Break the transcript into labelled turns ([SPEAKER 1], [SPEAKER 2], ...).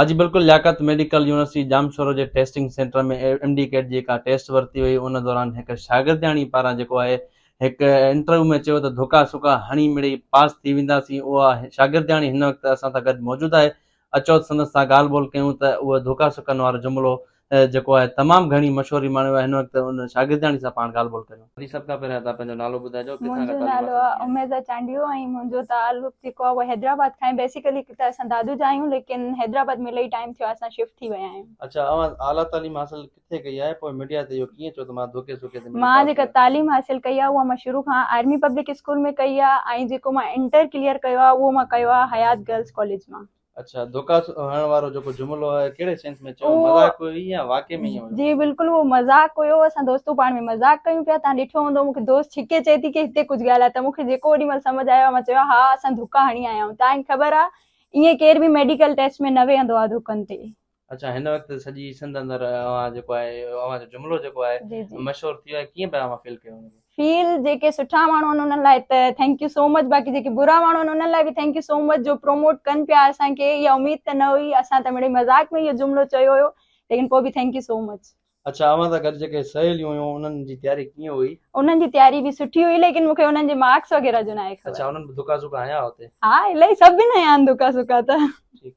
[SPEAKER 1] اڄ بلڪل Liaquat medical university Jamshoro جي testing centre ۾ M D CAT جي ڪا ٽيسٽ ورتي وئي ان دوران هڪ شاگردياڻي پاران جيڪو آهي هڪ انٽرويو ۾ چيو ته ڌڪا سڪا هڻي مڙئي پاس ٿي وينداسين اها شاگردياڻي هن وقت اسان سان گڏ موجود آهي اچو سندس سان ڳالهه ٻولهه ڪيون ته اهو ڌڪا سڪن وارو جملو جيڪو آهي تمام گهڻي مشهور امام آهي هن وقت ان شاگردياڻي سان پاڻ ڳالهه ٻولهه ڪريون. جي سڀ کان پهريان تان پنهنجو نالو ٻڌائجو ڪٿان کان تعليم حاصل ڪئي. منهنجو نالو آهي اميزا
[SPEAKER 2] چانڊيو
[SPEAKER 1] ۽
[SPEAKER 2] منهنجو تعلق جيڪو آهي اهو حيدرآباد کان آهي بيسيڪلي ته اسان دادو جا آهيون ليڪن حيدرآباد ۾ الهي ٽائيم ٿيو آهي اسان شفٽ ٿي ويا آهيون. اڇا اوهان اعليٰ
[SPEAKER 1] تعليم حاصل ڪٿي ڪئي آهي پوء ميڊيا تي اهو ڪيئن چئو ته مان ڌوڪي سوڪي تي ميڊيا مان پاس جيڪا ڪيو. تعليم حاصل
[SPEAKER 2] ڪئي آهي اها مان شروع کان آرمي پبلڪ اسڪول ۾ ڪئي آهي ۽ جيڪو مان انٽر ڪليئر ڪيو آهي اهو مان ڪيو آهي حيات گرلز ڪاليج مان. اچھا ڌوڪا
[SPEAKER 1] هڻڻ وارو جيڪو جملو آهي ڪهڙي سينس ۾ چيو مذاق هيو يا واقعي
[SPEAKER 2] ۾
[SPEAKER 1] هيو جي بلڪل هو مذاق
[SPEAKER 2] هيو اسان دوستون پاڻ ۾ مذاق ڪيون پيا تان ڏٺو هوندو مونکي دوست ڇڪي چئي ٿي ڪي هتي ڪجھ ڳالهاء ته مونکي جيڪو اوڏي مهل سمجھ آيو مان چيو ها اسان ڌوڪا هڻي آيا آهيون تان کي خبر آهي ائين ڪير به ميڊيڪل ٽيسٽ ۾ نه ويهندو آهي ڌوڪن تي اچا هن وقت
[SPEAKER 1] سڄي سنڌ اندر اوهان جيڪو آهي اوهان جو جملو جيڪو آهي مشهور ٿي ويو آهي
[SPEAKER 2] ڪيئن پيا
[SPEAKER 1] اوهان فيل ڪيو ان کي فيل جيڪي سٺا
[SPEAKER 2] ماڻهو آهن انهن لاء ته ٿينڪ يو سو مچ باقي جيڪي برا ماڻهو آهن انهن لاء به ٿينڪ يو سو مچ جو پروموٽ ڪن پيا اسان کي اها اميد ته نه هئي اسان ته مڙي مذاق ۾ اهو جملو چيو هيو ليڪن پوء به ٿينڪ يو سو مچ اچا اوهان سان گڏ
[SPEAKER 1] جيڪي سهيليون هيون انهن جي تياري ڪيئن هئي انهن جي تياري به
[SPEAKER 2] سٺي هئي ليڪن مون کي انهن جي مارڪس وغيره جو ناهي خبر اچا انهن به دڪا
[SPEAKER 1] سڪا
[SPEAKER 2] هيا هتي ها
[SPEAKER 1] الاهي
[SPEAKER 2] سڀني
[SPEAKER 1] هيا آهن
[SPEAKER 2] دڪا سڪا ته ٺيڪ